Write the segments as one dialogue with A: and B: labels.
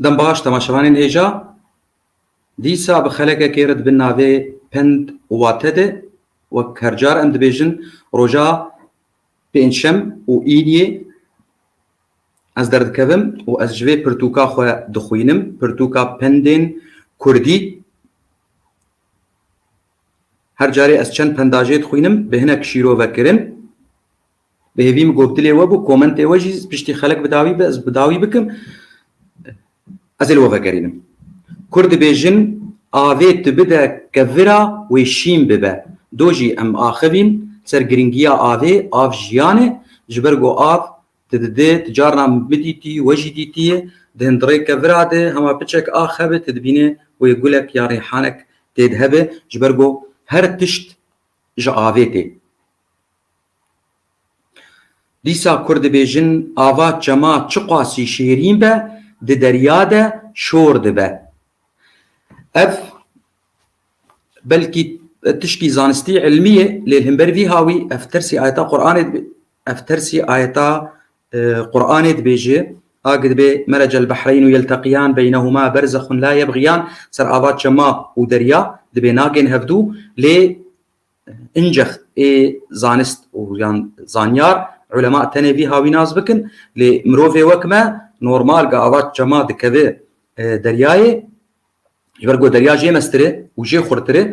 A: Dem baş temaşevanên hêja. Dîsa bi xelekekê re dibin navê pend û wate de. Wek her car em dibêjin roja pêncşem û îdîyê ez derdikevim û ez ji vê pirtûka xwe dixwînim, pirtûka pendên kurdî. Her carê ez çend penda jê dixwînim bi hinek şîrove kirin. Bi hêvî min gotilê we bû, komentê we jî piştî xelek bi dawî be, ez bi dawî bikim. Ez ê li we vegerînim. Kurd dibêjin avê tu bide kevira wê şîn bibe. Do jî em axivîn ser girîngiya avê, av jiyan e. Ji ber ku av tu dide, tu carna min bidîtî, we jî dîtîyê, di hindirê kevira de hema piçek ax hebe tu dibînê wê gulek ya rîhanek tê de hebe. Ji ber ku her tişt ji avê tê. Dîsa kur dibêjin ava çema çiqasî şêrîn be di derya de şor dibe. Ev belkî tişkî zanistî îlmî ye lê himber vî hawî ev tersî ayeta Quranê ev tersî ayeta e, Quranê dibêje ag dibe meracel behreynu yelteqiyan beynehuma berzexun la yebgiyan ser ava çema û derya dibê nagên hevdû lê Încex ê zanist û yan zanyar ulema tenê vî havî nas bikin lê mirovê wek me normal ga ava çema dikeve deryayê ji ber ku derya jê mestir e û jê xurtir e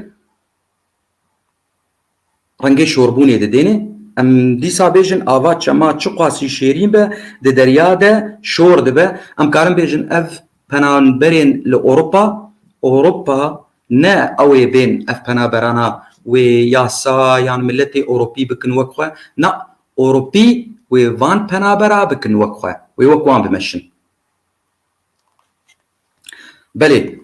A: rengê şorbûnê didêne em dîsa bêjin ava çema çiqasî şêrîn be di derya de şor dibe em karin bêjin ev penanberên li Ewropa Ewropa Ne ew ê bên ev penaberana wê yasa yan miletê Ewropî bikin wek xwe, na Ewropî wê van penabera bikin wek xwe, wê wek wan bimeşin. Belê.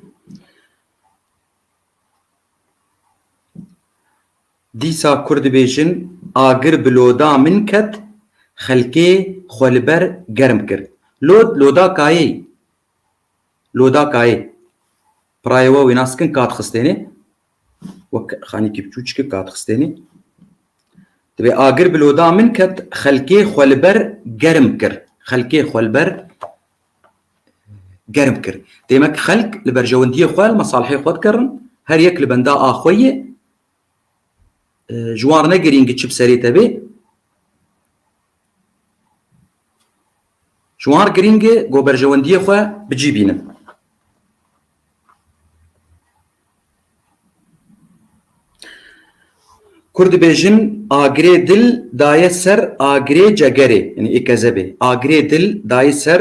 A: Dîsa kur dibêjin, agir bi loda min ket, xelkê xwe li ber germ kir. Lod, loda kayê. Loda kayê. Pirayê we wê nas kin Kadxistênê. Wek xanîkî biçûçik Kadxistênê. Divê agir bi loda min ket xelkê xwe li ber germ kir. Xelkê xwe li ber germ kir. Demek xelk li berjewendiyê xwe li mesalihê xwe dikerin. Her yek li benda a xwe yê. Ji wan re ne girîng e çi bi serê te bê. Ji wan girîng e ku berjewendiyê xwe bi cî bînin. Kurd dibêjin agirê dil daye ser agirê cegerê yanî ê kezebê agirê dil dayê ser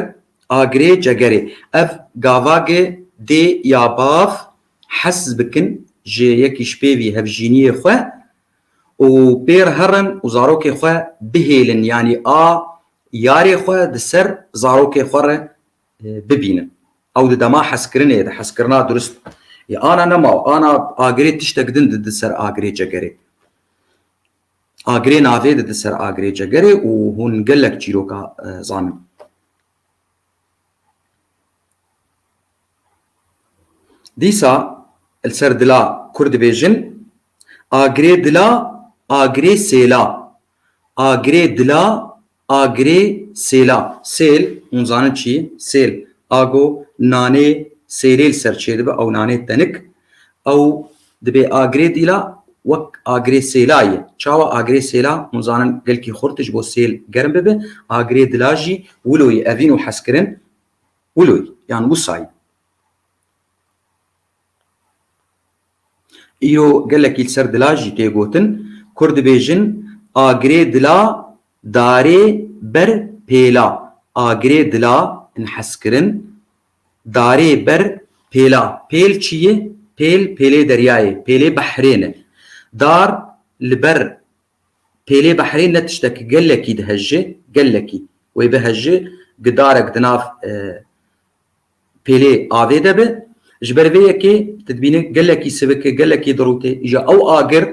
A: agirê cegerê. Ev gavagê dê ya bav hez bikin ji yekî ji pêvî hevjîniyê xwe û pê re herin û zarokê xwe bihêlin yanî a yarê xwe di ser zarokê xwe re bibînin. Ew di dema hezkirinê ye de, hezkirina dirust ye. Ana nema û ana agirê tiştek din di di ser agirê cegerê. Agirê navê di di ser agirê cegerê û hûn gelek çîroka zanin. Dîsa li ser dila kur dibêjin Agirê dila, agirê sêla. Agirê dila, agirê sêla. Sêl, hûn zanin çi ye? Sêl, ago nanê sêlê li ser çêdibe, ew nanê tenik. Ew dibê agirê dîla wek agirê sêla ye. Çawa agirê sêla hûn zanin gelkî xurt e ji bo sêl germ bibe. Agirê dila jî wilo ye, evîn û hezkirin wilo ye yan wisa ye. Îro gelekî li ser dila jî tê gotin. Kurd dibêjin, Agirê dila, darê ber pêla. Agirê dila in hezkirin, darê ber pêla. Pêl çi ye? Pêl, pêlê deryayê, pêlê behrê ne. Dar li ber pêlê behrê ne tiştek gelekî dihejê, gelekî. Wê bihejê, gidarek di nav pêlê avê de be. Ji ber vê yekê tu dibînî gelekî sivik e, gelekî dirût e. Îja ew agir,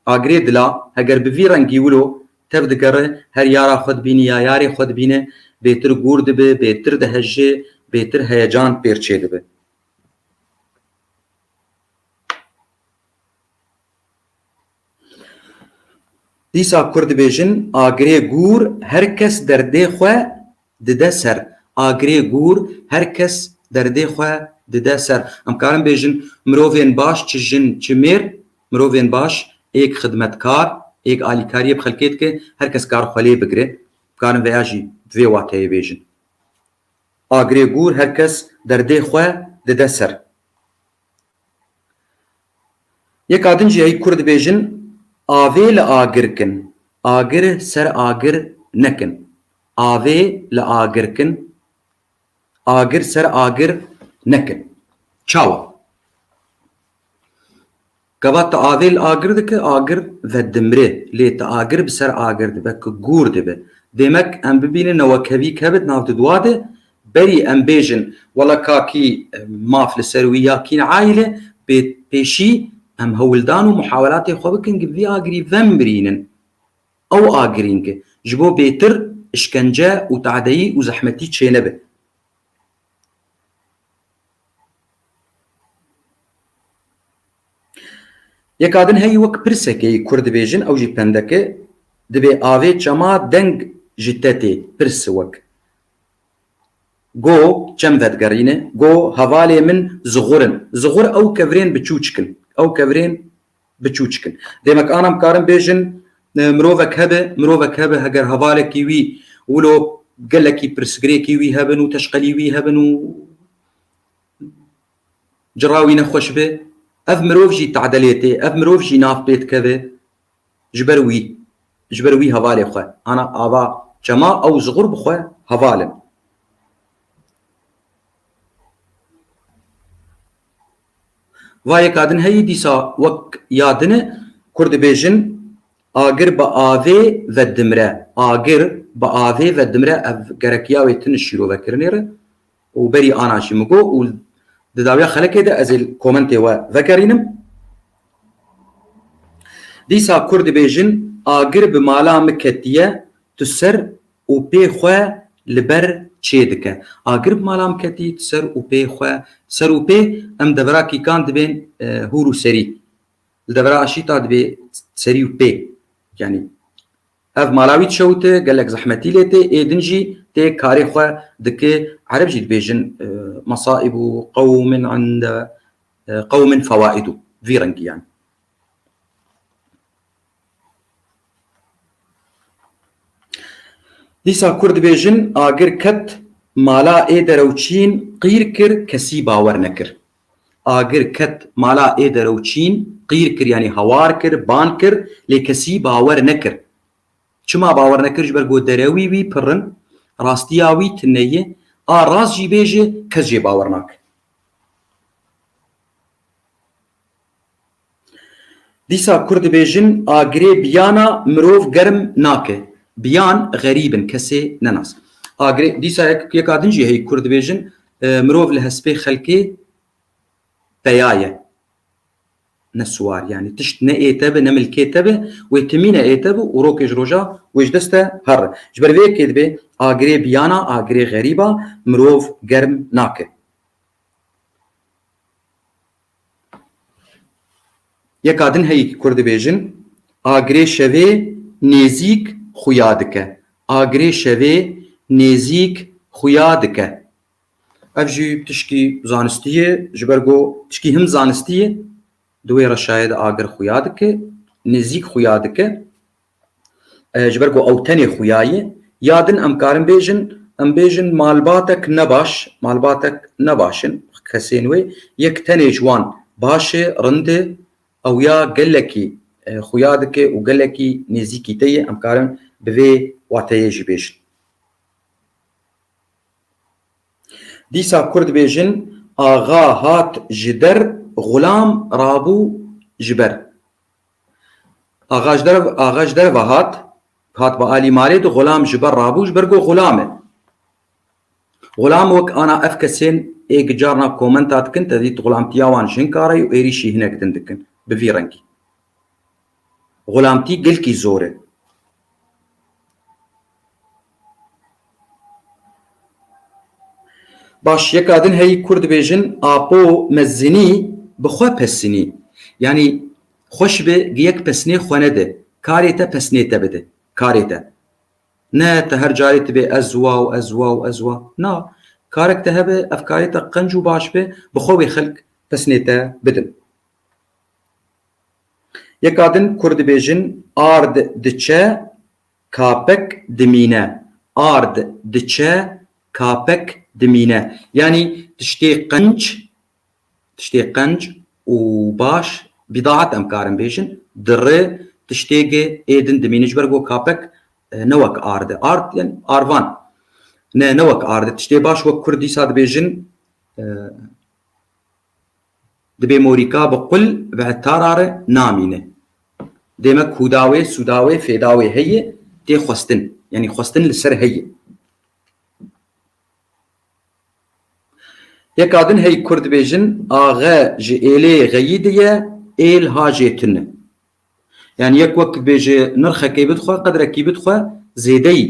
A: agirê dila heger bi vî rengî wilo tev digere, her yara xwe dibînî ya yarê xwe dibîne, bêtir gûr dibe, bêtir dihejê, bêtir heyecan pêr çêdibe. Dîsa Kurd dibêjin agirê gûr her kes derdê xwe dide ser. Agirê gûr her kes derdê xwe dide ser. Em karin bêjin mirovên baş çi jin çi mêr, mirovên baş êk xidmetkar, êk alîkariyê bi xelkê dike, her kes kar xwe lê bigire. Karin veya jî bi vê wateyê bêjin. Agirê gûr her kes derdê xwe dide ser. Yeka din jî heyî Kurd dibêjin, Avê li agir kin, agir ser agir nekin. Avê li agir kin, agir ser agir nekin. Çawa? Gava tu avê li agir dikî, agir vedimre. Lê tu agir bi ser agir dibe ku gûr dibe. Demek em bibînin newekevî kevit nav di dua de, Berî em bêjin wela kakî maf li ser wî ya kîn aîle bê pêşî em hewldan û muhawelatê xwe bikin ki vî agirî vemrînin. Ew agirîn ki ji bo bêtir îşkence û tadeyî û zehmetî çênebe. Yeka din heyî wek pirseke yî kurd dibêjin ew jî pendeke, dibê avê çema deng ji te tê, pirs wek. Go çem vedigerîne, go hevalê min zixur in. Zixur ew kevirên biçûçik in, ew kevirên biçûçik in. Demek anam karin bêjin mirovek hebe, mirovek hebe heger hevalekî wî wilo gelekî pirsgirêkî wî hebin û teşqelî wî hebin û cira wî nexweş be, ev mirov jî tedelê tê, ev mirov jî nav pê dikeve. ji ber wî ji ber wî hevalê xwe ana ava çema ew ji xurb xwe heval in. Va yeka din heyî dîsa wek ya din e Kurd dibêjin Agir bi avê ve dimre. Agir bi avê ve dimre ev gerekiya wê tune şîrovekirinê re û berî anan jî min got û di dawiya xelekê de ez ê komentê we vegerînim. Dîsa kurd dibêjin agir bi mala min ketiye tu ser û pê xwe li ber çê dike. Agir bi mala min ketî tu ser û pê xwe ser û pê em devera kîkan dibên hûr û serî. Li devera aşîta dibê serî û pê yanî Ev mala wî çewt e, gelek zehmetî lê tê, ê din jî tê karê xwe dike. Ereb jî dibêjin Masaibu qewmin inde qewmin fewaidu vî rengî yanî. Dîsa kurd dibêjin agir ket mala ê derewçîn qîr kir kesî bawer nekir. Agir ket mala ê deroçîn, qîr kir yanî hawar kir, ban kir lê kesî bawer nekir. Çima bawer nekir ji ber ku derewî wî pir in, rastiya wî tune ye, a rast jî bêje kes jê bawer nake. Dîsa kur dibêjin a girê biyana mirov germ nake. Biyan xerîb in kesê nenas. A girê dîsa yek yeka din jî heyî kur dibêjin mirov li hespê xelkê peya ye. Ne siwar yanî tişt ne ê te bi ne milkê te bi wê timîne ê te bi û rokê ji roja wê ji dest te herr e. Ji ber vê yekê dibê a girê biyana a girê xerîba mirov germ nake. Yeka din heyî Kurd dibêjin, Agirê şevê nêzîk xuya dike. Agirê şevê nêzîk xuya dike. Ev jî tişkî zanistî ye, ji ber ku tişkî him zanistî ye. Di wê re şayede agir xuya dike, nêzîk xuya dike. Ji ber ku ew tenê xuya ye, ya din em karin bêjin, em bêjin malbatek ne baş, malbatek ne baş in, kesên wê, yek tenê ji wan baş e, rind e, ew ya gelekî xuya dike û gelekî nêzîkî te ye, em karin bi vê wateyê jî bêjin. Dîsa kur dibêjin, Axa hat ji der, xulam rabû ji ber. Axa ji der axa ji derve hat, hat bi alî malê di xulam ji ber rabû ji ber got xulam e. Xulam wek ana ev kesên ê ki carna komenta dikin te dît xulamtiya wan jin kar e û êrîşî hinek din dikin bi vî rengî. Xulamtî gelkî zor e. Baş yeka din heyî kur dibêjin Apo Mezzinî bi xwe pesînî. Yanî xweş bi gi yek pesnê xwe nedi. Karê te pesnê te bidi. Karê te. Ne te her carê tu bê ez wa û ez wa û ez wa. Na. Karek te hebe ev karê te qenc û baş be bi xwe wê xelk pesnê te bidin. Yeka din kur dibêjin ard diçe Kapek dimîne, ard diçe, kapek dimîne. Yanî tiştê qenc, tiştê qenc û baş, bîdaet em karin bêjin, di ri tiştêgê ê din dimîne. Ji ber ku kapek ne wek ard e. Ard yanî arvan. Ne, ne wek ard e. Tiştê baş wek kurd dîsa dibêjin. Dibê morîka bi qul bi hetara re namîne. Dê me kûda wê, sûda wê, fêda wê heye tê xwestin. Yanî xwestin li ser heye. Yeka din hey kurd dibêjin axe ji êlê xeyî di ye, êl ha jê tune. Yanî yek wek dibêje nirxekê bidixwe, qedrekî bidixwe zêdeyî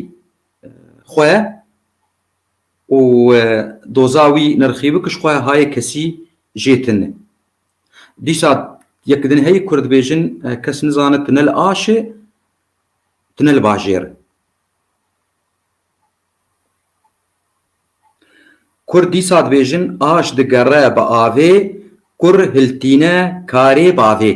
A: xwe û doza wî nirxî bi kişxweya hayê kesî jê tune. Dîsa yek din heyî ku dibêjin kes nizane tune li aş e, tune li bajêr e. Kurd dîsa dibêjin aş digere bi avê, kur hiltîne karê bavê.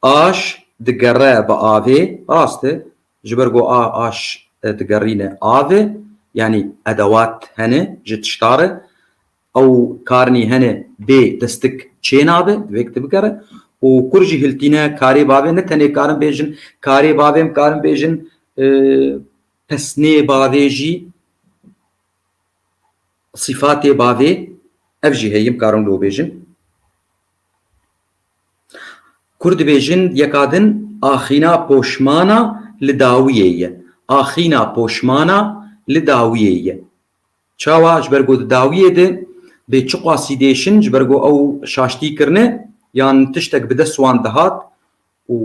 A: Aş digere bi avê, rast e, Ji ber ku a aş digerîne avê, yanî edewat hene ji tişta re, ew karnî hene bê destik çê nabe, divê kitêb bigere û kur jî hiltîne karê bavê, ne tenê karin bêjin karê bavê em karin bêjin pesnê bavê jî sîfatê bavê ev jî heye em karin wilo bêjin. Kur dibêjin yeka din axîna poşmana li dawiyê ye. Axîna poşmana li dawiyê ye. Çawa? Ji ber ku di dawiyê de bê çiqasî dêşin ji ber ku ew şaştî kirine yan tiştek bi dest wan dihat û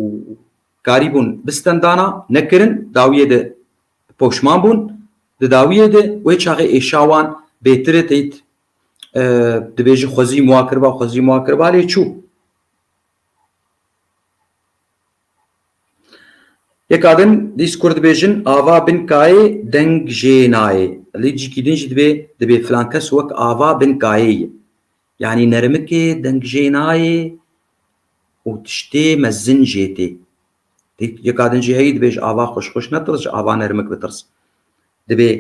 A: karîbûn bistendana nekirin dawiyê de poşman bûn. Di dawiyê de wê çaxê êşa wan bêtire teyt dibêjin xwezî wan kiriba xwezî wan kiriba lê çû Yeka din dîs kur dibêjin ava bin kayê deng jê nayê lê cîkî din jî dibê dibê filan kes wek ava bin kayê ye yanî nermikê deng jê nayê û tiştê mezin jê tê yeka din jî heyî dibêj ava xweş xweş netirs ji ava nermik bitirs Dibê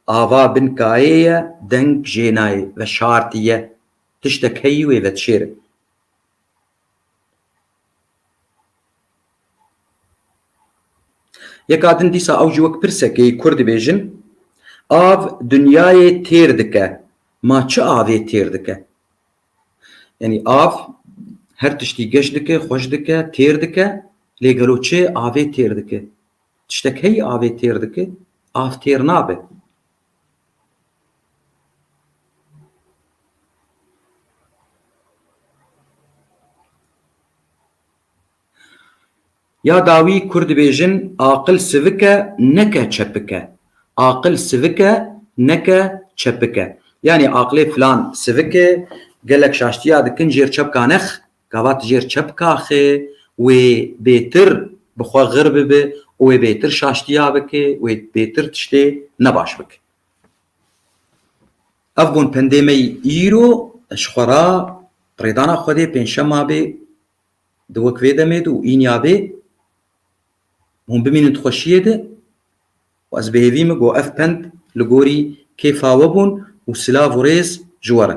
A: ava bin kayê ye deng jê nayê ve şartî ye tiştek heyî wê vedişêrin. Yeka din dîsa ew jî wek pirsekê kur dibêjin, Av dinyayê têr dike, ma çi avê têr dike? Yanî av her tiştî geş dike, xweş dike, têr dike lê gelo çi avê têr dike? Tiştek heyî avê têr dike, av têr nabe. Ya dawî Kurd dibêjin aqil sivik e neke çepik e. Aqil sivik e neke çepik e. Yanî aqilê filan sivik e, gelek şaştiya dikin jêr çepkanex. Gava tu jêr çi bikaxê, wê bêtir bi xwe xir bibe û wê bêtir şaştiya bike, wê bêtir tiştê ne baş bike. Ev bûn pendê me îro ji xwe ra rêdana Xwedê pêncşema bê di wek vê demê de û înya bê hûn bimînin di xweşiyê de û ez bi hêvî me got ev pend li gorî kêfa we bûn û silav û rêz ji we re.